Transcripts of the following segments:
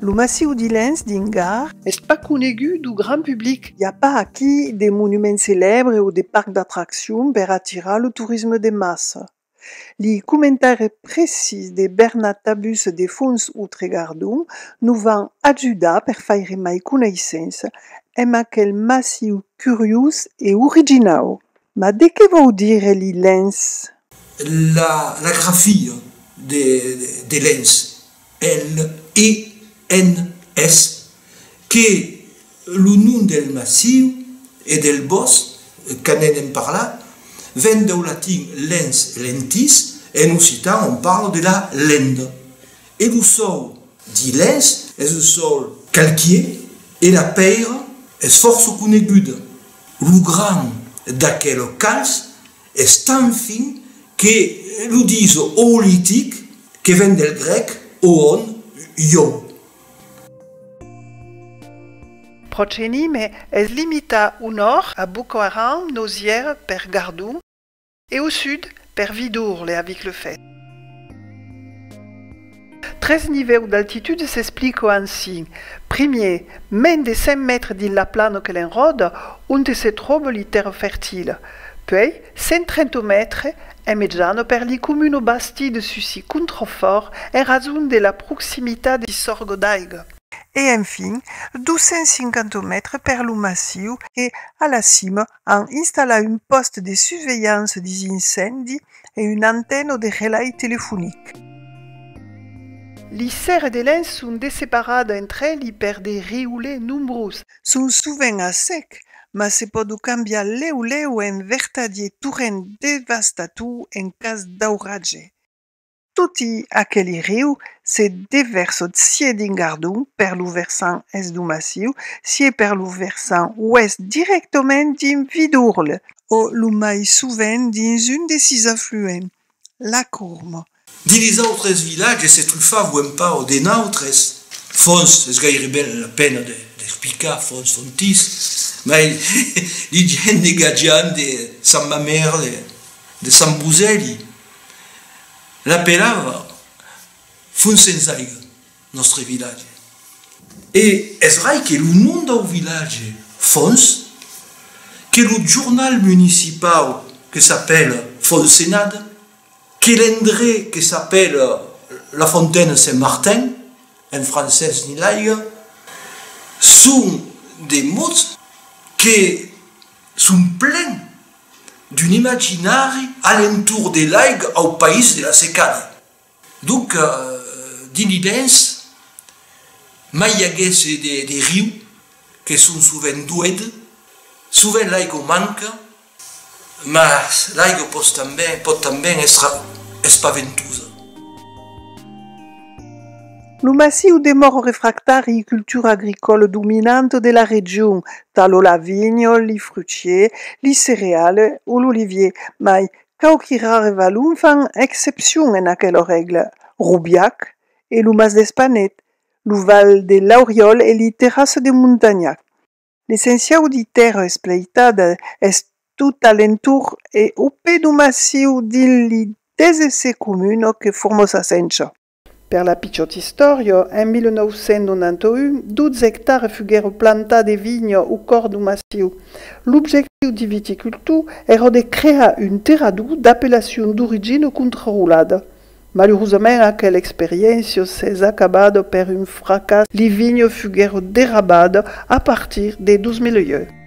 Lo massiu d'Ilens dins Gard. Es pas conegut dau grand public. I a pas aquí de monument celèbre o de parc d'atraccion per atirar lo torisme de massa. Li comentaires precís de Bernat Tabus de Fons Outre Gardon nos van ajudar per faire mai coneissença emb aquel massiu curiós e originau. Mas de qué vòu dire li lens? La grafia de lens, L-E-N-S, qu'es lo nom del massiu e del bòsc qu'anèn en parlar, ven dau latin lens, lentis, en occitan òm parla de la lenda. E lo sòl di lens es un sòl calquier e la pèira es fòrça coneguda. Lo grand d'aquel cas es tan fin que lo dis oolitic, que ven del grèc oon, iòu. Procheni me es limita unor a bucoaram nosièr per gardon. E au sud, per Vidourle e avic le Fès. Tres nivèus d'altitud s'explico ansin, primier, mens de 100 mètres dins la plana que l'enròda, onte se tròba li tèrra fertila, puèi 130 mètres en mejana per li comuna basti de Sucy Contrefòrt en rason de la proximitat de sorga d'aiga, e enfin 250 mètres per lo massiu e a la cima an installat un pòste de susvelhança des incèndi e una antena de relai telefonic. Li sèrres de lens son desseparada entre eli per de riulets nombrós. Son sovent a sec, mas se pòdo cambiar lèu lèu en vertadier torrent devastator en cas d'auratges. Toti aqueli riu se devèrsot sié dins Gardon per lo versant est du massiu, sié per lo versant oèst dirèctament dins Vidourle, o lo mai sovent dins un de sis afluents, la Courme. Dins les autres vilatges se trufava o en pau de nautres fonts, es gaireben la pena d'explicar, fonts, fontis, mai li diem negatjant de Sant Mamèrle, de Sant Bosèli, La pelava fon sens aiga nòstre vilatge. E es rai que lo nom dau vilatge Fons, que lo jornal municipau que s'apèla Fonsenat, que l'endré que s'apèla La Fontaine Saint-Martin, en francés ni l'aiga, son de mots que son plens D'un imaginari a l'entorn de l'aiga au país de la secada. Donc, dins l'Ibens, mai i aguèsse de riu, que son sovent doed, sovent l'aiga o manca, mas l'aiga pos tanben, pòt tanben èstre espaventosa. Lo massiu de Mòro Refractari i cultura agricòla dominanta de la region, talò la vinha, li fruchier, li cereale o l'olivier, mai quauqui rare valon fan excepcion en aquela règla, Robiac e lo Mas d'Espanet, lo Val de Lauriòl e li Terrasses de Montagnac. L'essenciau di tèrra espleitada es tot a l'entorn e au pè do massiu dins li desese comuna que forma sa sencha. Per la pichòt istòria, en 1991, 12 ectàres fuguèron plantats de vinha au còr d'un massiu. L'objectiu de viticultor èra de crear un terrador d'apellacion d'origina contrarolada. Malurosament aquela experiéncia s'es acabada per un fracàs, li vinhas fuguèron derrabadas a partir de 2001.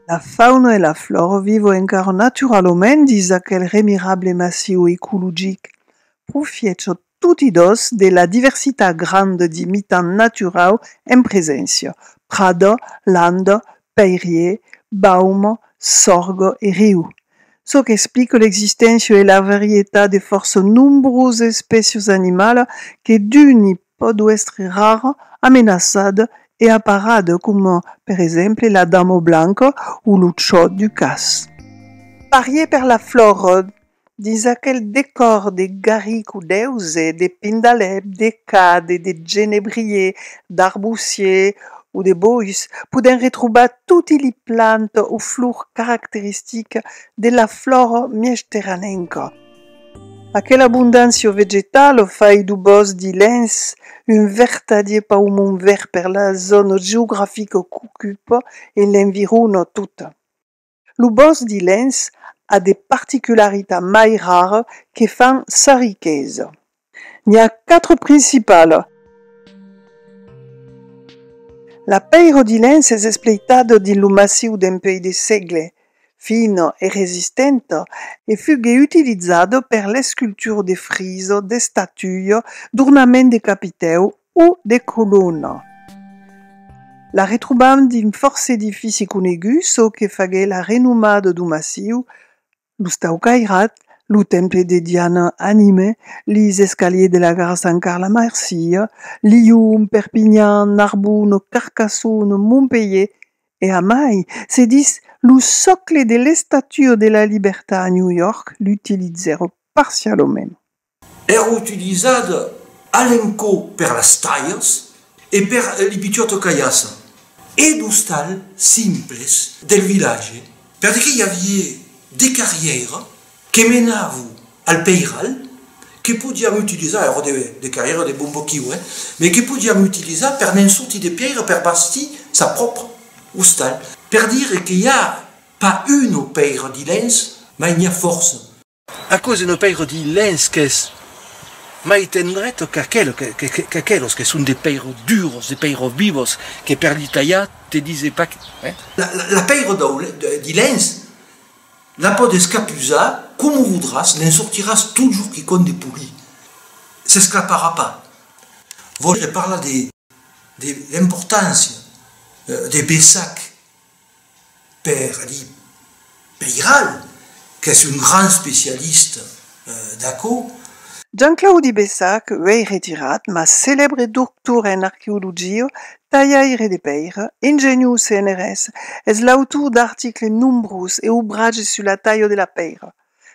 La fauna e la flòra vivo encara naturalament dins aquel remirable massiu ecologic, profiècho toti dos de la diversitat granda de mitan naturau en preséncia, prada, landa, pèirier, bauma, sòrga e riu, çò qu'explica l'existéncia e la varietat de fòrça nombrosas espècias animalas que d'uni pòt uèstre rara, amenaçada e aparada coma per exemple la dama blanca o lo chò du cas. Parier per la flora dins aquel decòr de garric o d'èuze, de pindalèp, de cade, de genebrier, d'arbusier o de bois, podèm retrobar toti li plantas o flors caracteristicas de la flora mièjterranenca. Aquela abondància vegetala o fai du bòsc de Lens un vertadier paumon verd per la zòna geografica qu'ocupa e l'environa tota. Lo bòsc de Lens a de particularitats mai raras que fan sa riquesa. N'i a quatre principalas. La pèira de lens es espleitada dins lo massiu dempuèi de sègle, fina e resistenta, e fugué utilizada per l'escultura de frisa, d'estatuia, d'ornament de capitèu o de colona. La retrobam dins fòrça edifici coneguts, çò que faguèt la renomada do massiu, Los tau cairat, lo temple de Diana anime lis escaliers de la gara Sant Carla Marsilha, Lion, Perpinhan, Narbona, Carcassona, Montpelhier e a mai se dis lo socle de l'Estatua de la Libertat a New York l'utilizèron parcialament. Èra utilizat a l'encò per las talhas e per li pichòt cailhassa e d'ostal simples del vilatge perque i avié de carrièira que menavon al peiral que podián utilizar, èra de carrièira de bon boquiu, eh, me que podián utilizar per ne'n sortir de pièira per bastir sa pròpra ostal. Per dire que i a pas una pèira dilens, mai n'i a fòrça. Aquò se ne pèiro di lèns qu'es mai tendret qu'aquelos que son de pèiro duros, de pèiro vivos, que per li talhar te dise pas que. La pèiro di lèns la pòt escapusar coma vodràs, ne'n sortiràs totjorn quicòm de poli, s'esclaparà pas. Vòire parlar de l'importància de Bessac. per Adi Peiral, qu'es un grand especialista d'aquò. Jean-Claudi Bessac, uèi retirat, mas celèbre doctor en arqueologia, talhaire de pèira, ingeniós CNRS, es l'autor d'articles nombrós e obratges sus la talha de la pèira,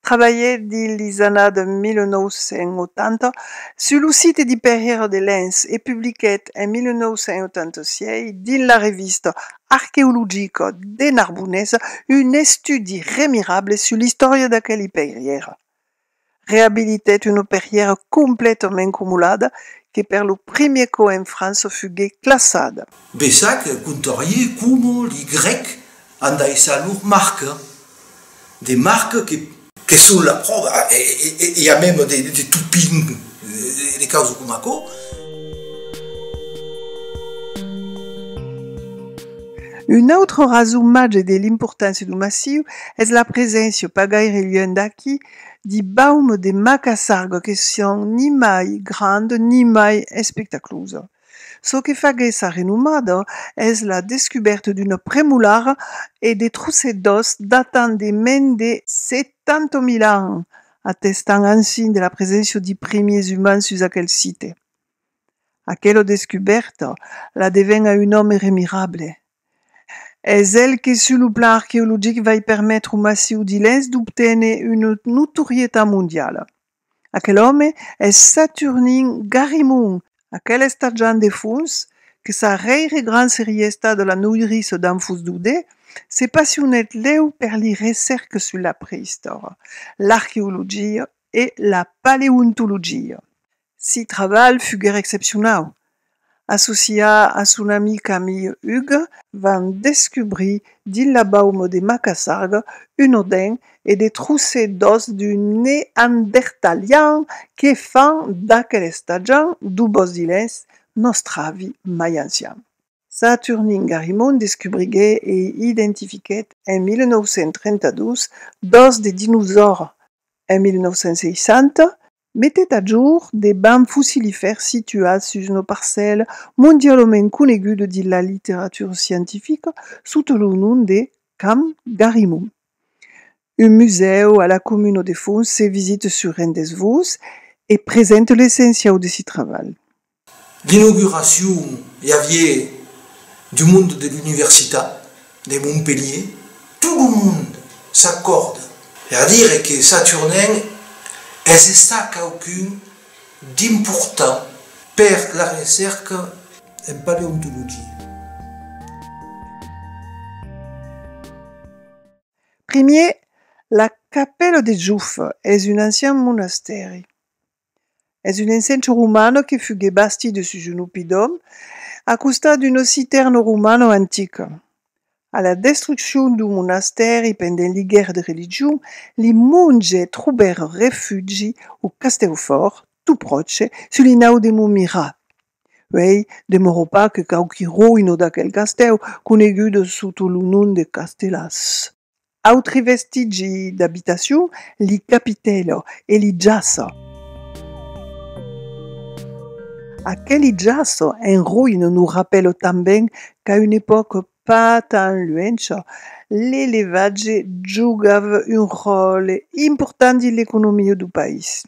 Trabalhè dins lis annada 1980 sus lo site di Perrièra de Lens e publiquèt en 1986 dins la revista arqueologica de Narbonesa un estudi remirable sus l'istòria d'aqueli perrièra. Reabilitèt una perrièra completament comolada que per lo primièr còp en França fuguèt classada. Bessac contarie coma li Grècs an daissat lor marca, de marca que. Que son la pròva, e a mèm de topin, de causa coma aquò. Una autra rason màger de l'importància du massiu es la preséncia, pas gaire luènh d'aqui, de baum de macassarga que son ni mai granda ni mai espectaclosa. Çò que faguèt sa renomada es la descubèrta d'una premolara e de trosset d'òs datant de mens de 70.000 ans, atestant ansin de la preséncia de primiers umans sus aquel site. Aquela descubèrta la deven a un òme remirable. Es el que sus lo plan arqueologic vai permetre au massiu d'Ilhens d'obténer una notorietat mondiala. Aquel òme es Saturnin Garimon, aquel estarjant de fons que sa rèire grand serie estat la noirissa d'An Fus Dodé, se passionèt lèu per li recèrques sus la preïstòria, l'arqueologia e la paleontologia. Si trabalh fuguèr excepcionau, associar a son amic Camille Hugues, van descubrir dins la bauma de Macassar un odin e de trosses d'òs d'un neandertalian que fan d'aquel estatjan d'o Bòsdilens nòstre avi mai ancian. Saturnin Garimond descubriguèt e identifiquèt en 1932 d'òs de dinosaures. En 1960, Metet a jorn de bams fossilifèrs situats sus una parcèla mondialament coneguda dins la literatura scientifica sota lo nom de Camp Garimond. Un musèu a la comuna de Fons se visita sur rendez-vos e presenta l'essenciau de si trabalh. L'inauguracion i avié du monde de l'Universitat de Montpelhier, tot lo monde s'acòrda per dire que Saturnin es estat quauqu'un d'important per la recèrca en paleontologia. Primier, la capèla de Joffe es un ancian monastèri. Es un encencho romano que fugué bastit de sus un oppidòm a costat d'un ossitèrn romano antic. A la destruccion du monastèri pendent li guèrres de religion, li monges trobèron refugi au castèu fòrt, tot pròche, sus li nau de Montmirat. Uèi, demorò pas que quauqui roïno d'aquel castèu, conegudo sota lo nom de Castellàs. Autri vestigi d'abitacion, li capitèlo e li jaço. Aqueli jaço en roïna nos rapèlo tanben qu'a una epòca pas tan luencha, l'elevatge jogava un ròtle important dins l'economia du país.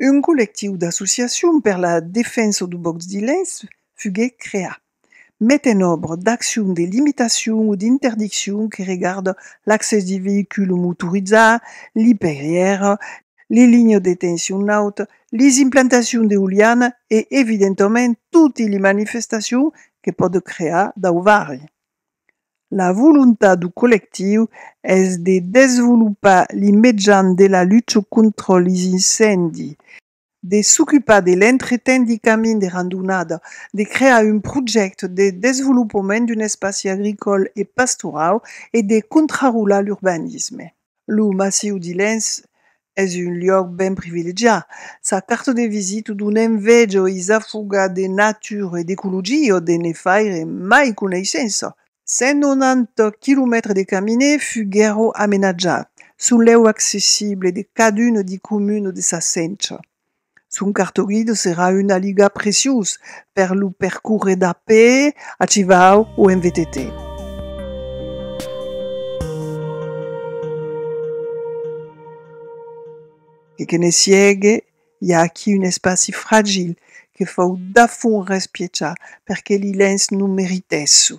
Un collectiu d'associacions per la defensa du bòsc de Lens fuguèt creat, met en òbra d'accions de limitacion o d'interdiccion que regardan l'accès de veïculs motorizats, li perrièrs, li linhas de tension nauta, les implantacions d'eoliana e evidentament totes les manifestacions que pòdon crear dau varri. La volontat du collectiu es de desvolopar li mejans de la lucha contra li incèndi, de s'ocupar de l'entretèn li camin de randonada, de crear un projècte de desvolopament d'un espaci agricòl e pastorau e de contrarolar l'urbanisme. Lo Massiu de Lens es un luòc ben privilegiat. Sa carta de visita dona enveja e s'afoga de natura e d'ecologia de ne faire mai coneissença. 190 quilomètres de caminè fuguèron amenatjats, son lèu accessible de caduna de comuna de sa centra. Son cartoguilh serà un aligat preciós per lo percórrer d'a pè, a chivau o en VTT. E que ne siegue, i a aquí un espaci fragil que fau dafont respiechar perque li lens non meritèsson.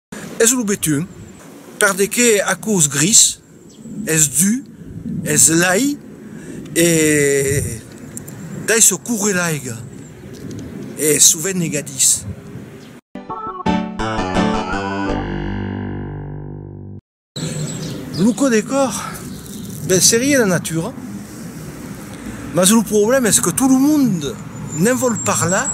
Es lo betun, perdeque aquò's gris, es du, es lai e d'aisò coure l'aiga, e sovent negadís. Lo codecor, ben serie la natura, mas lo problèma es que tot lo mond ne'n vòl parlar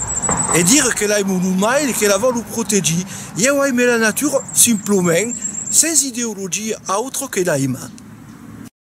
e dire que l'ai mon umai e que la vòlu protegir. Ieu aime la natura simplement, sens ideologia autra que l'aimar.